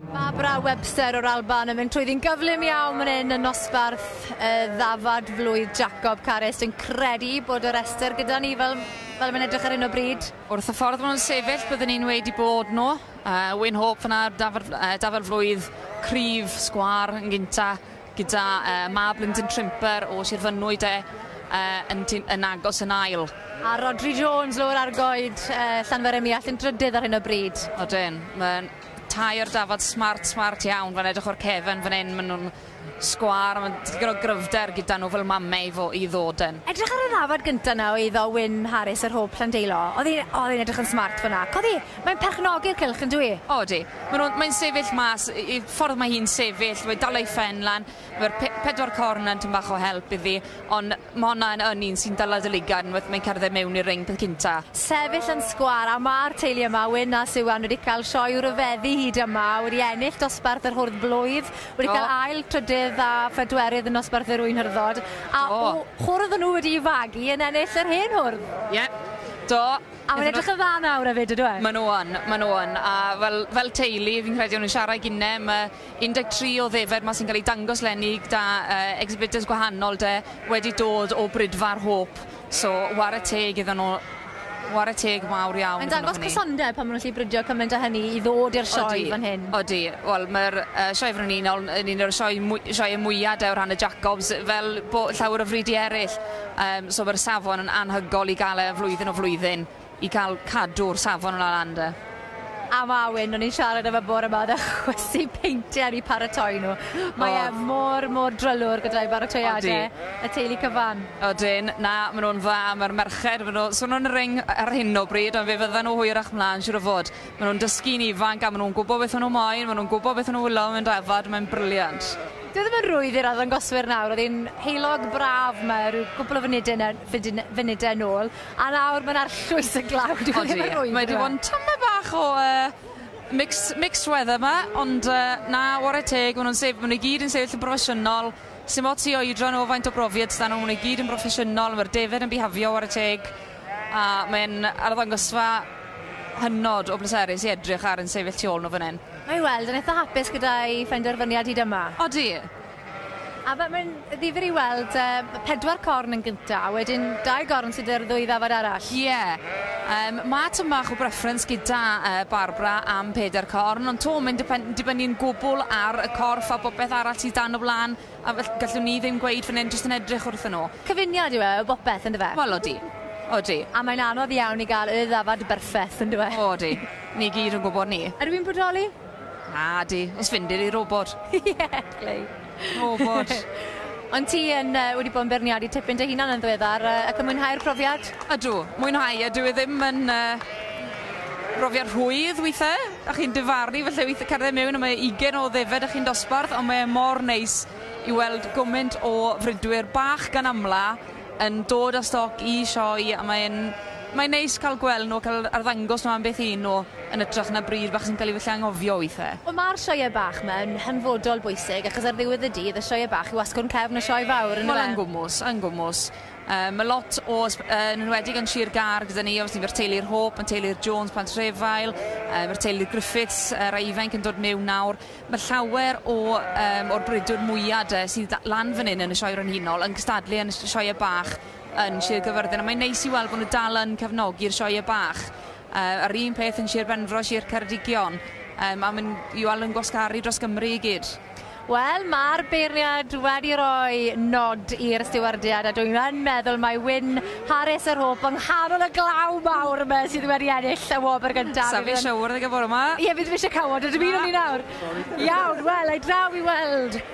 Barbara Webster o'r Alban yn mynd trwy ddyn gyflym iawn fan hyn yn nosbarth y ddafad flwydd Jacob Carys yn credu bod y rester gyda ni fel, fel mae'n edrych ar hyn o bryd. Wrth y ffordd maen nhw'n sefyll, byddwn ni'n wedi bod nhw. Uh, Wyn Hope fyna, dafad, uh, dafad flwydd, cryf, sgwar yn gynta, gyda mab Lyndon Trimper o Sir Fynwy de, yn tyn- yn agos yn ail. A Rhodri Jones lowr ar goed Llanfair-ym-Muallt yn drydydd ar hyn o bryd. Odyn, ma'n tair dafad smart smart iawn fan edrych o'r cefen fan 'yn ma' nw'n sgwâr ma' digon o gryfder gyda nw fel mame i fo- i ddod yn. Edrych ar y ddafad gynta 'na o iddo Wyn Harris yr Hôb Llandeilo, odd 'i odd e'n edrych yn smart fan 'na. Codi Mae'n perchnogi'r cylch, yn dyw 'i? O, ydy. Maen nhw'n... mae'n sefyll mas, y y ffordd mae hi'n sefyll, mae'n dal ei phen lan, mae'r pe- pedwar corn yn tŷm bach o help iddi, ond mae honna yn yn un sy'n dala dy ligaid unwaith mae'n cerdded mewn i'r ring peth cynta. Sefyll yn sgwâr, a ma'r teulu yma, Wyn a Siwan, wedi cael sioe ryfeddu hyd yma, wedi ennill dosbarth yr hwrdd blwydd, wedi cael Do. ail, trydydd a phedwerydd yn nosbarth yr ŵyn hyrddod, a Do. w- hwrdd nhw wedi'i fagu yn ennill yr hen hwrdd! Ie. Do. A mae'n edrych yn dda nawr hefyd, yndyw e? Maen nhw yn, maen nhw yn. A fel, fel teulu, fi'n credu o'n nhw'n siarad i gine, mae 13 o ddefaid 'ma sy'n cael eu dangos 'leni gyda yy exhibitors gwahanol de, wedi dod o Brydfa'r Hôp, so ware teg iddyn nhw, ware teg mawr iawn iddyn nhw hynny. Mae'n dangos cysondeb pan maen nhw'n gallu bridio cymaint â hynny i ddod i'r sioe fan hyn. Odi, odi. Wel, mae'r yy Sioe Frenhinol yn un o'r sioe mwy- sioeau mwya' de o rhan y Jacobs, fel bo- llawer o fridiau eryll. Yym so mae'r safon yn anhygoel i gael e flwyddyn o flwyddyn i cael cadw'r safon yn lan de. A Mawyn, o'n i'n siarad efo bore 'ma o'dd e chwysu peintiau i paratoi nhw. Mae e mor mor drylwr gyda'i baratoiade. Odi. Y teulu cyfan. Odyn, na ma' nhw'n dda, ma'r merched ma' nhw so nhw'n ring ar hyn o bryd ond fe fyddan nhw hwyrach mlan siŵr o fod. Maen nhw'n dysgu'n ifanc a maen nhw'n gwybod beth maen nhw moyn, maen nhw'n gwybod beth maen nhw wylio mewn dafad, mae'n briliant. Dyw e ddim yn rwydd i'r arddangoswyr nawr, oedd e'n heulog braf 'ma ryw gwpl o funude ne- fudune- funudau nôl, a nawr mae'n arllwys y glaw, dyw e ddim yn rwydd i'r ardd-... Odi, mae 'di bod yn tymed bach o yy mix- mixed weather 'ma, ond yy na, ware teg, maen nhw'n sef- maen nhw i gyd yn sefyll yn broffesiynol, sdim ots i oedran nhw, faint o brofiad sy' 'da nhw, maen nhw i gyd yn broffesiynol, mae'r defaid yn bihafio, ware teg. A mae'n arddangosfa hynod o bleserus i edrych ar yn sefyll tu ôl nhw fan hyn. Mae weld yn eitha hapus gyda'i phenderfyniad hyd yma. Odi. A fe- mae'n ddifyr i weld yy pedwar corn yn gynta, a wedyn dau gorn sydd ar ddwy ddafad arall. Ie. Yym ma' tym bach o breffrens gyda yy Barbara am peder corn ond 'to mae'n dipen- dibynnu'n gwbwl ar y corff a popeth arall sydd dan o flan. A felly, gallwn ni ddim gweud fan hyn jyst yn edrych wrthyn nhw. Cyfuniad yw e o bopeth, yn dyfe? Wel, odi. Odi. A mae'n anodd iawn i gael y ddafad berffeth, yn dyw e? O, odi. Ni gyd yn gwybod 'ny. Ydw i'n bodoli? Nadi, os fyndir i robot. Ie, glei. Robot. Ond ti yn uh, wedi bod yn beirniadu tipyn dy hunan yn ddiweddar uh, ac yn mwynhau'r profiad? Ydw, mwynhau. Ydw i ddim yn... Uh, Profiad rhwydd weithe, a chi'n difaru falle weithe cerdded mewn a mae ugen o ddefaid a chi'n dosbarth ond mae e mor neis i weld gyment o fridwyr bach gan amla yn dod â stoc i sioe a mae e'n mae'n neis ca'l gweld nw a ca'l arddangos nw am beth un nw yn ytrach na bryd bach sy'n ca'l 'i falle anghofio weithe. Wel ma'r sioe bach 'ma yn hanfodol bwysig achos ar ddiwedd y dydd y sioe bach yw asgwrn cefn y sioe fawr on'd yw e? Wel yn gwmws yn gwmws. Yy ma' lot o ysb- yy yn enwedig yn Sir Gâr gyda ni obviously ma'r teulu'r Hope, ma'r teulu'r Jones plant Rhefael, yy ma'r teulu'r Griffiths yy rai ifainc yn dod miwn nawr. Ma' llawer o yym o'r brwydwr mwya 'de sydd da- lan fan 'yn yn y Sioe Frenhinol yn cystadlu yn y s- sioe bach yn Sir Gyfyrddin a mae'n neis i weld bo' nw dal yn cefnogi'r sioe bach. Yy a'r un peth yn Sir Benfro, Sir Ceredigion. Yy ma' myn' i wel' yn gwasgaru dros Gymru i gyd. Wel, ma'r beirniad wedi roi nod i'r stiwardiad a dwi yn meddwl mai Wyn Harris yr Hope yng nghanol y glaw mawr yma sydd wedi ennill y wobr gynta. Sa fi siŵr ddeg y bore 'ma. Ie, fi ddim isie cawod, a dim un o ni nawr. Iawn, wel, ai draw i weld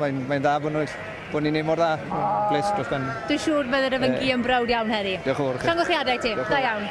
Mae'n mae'n dda bod nhw bod ni'n neud mor dda. Bles dros ben. Dwi'n siŵr bydd yr Yfyngu yn browd iawn heddi. Diolch yn fawr chi. Llongyflliadau i ti. Da iawn.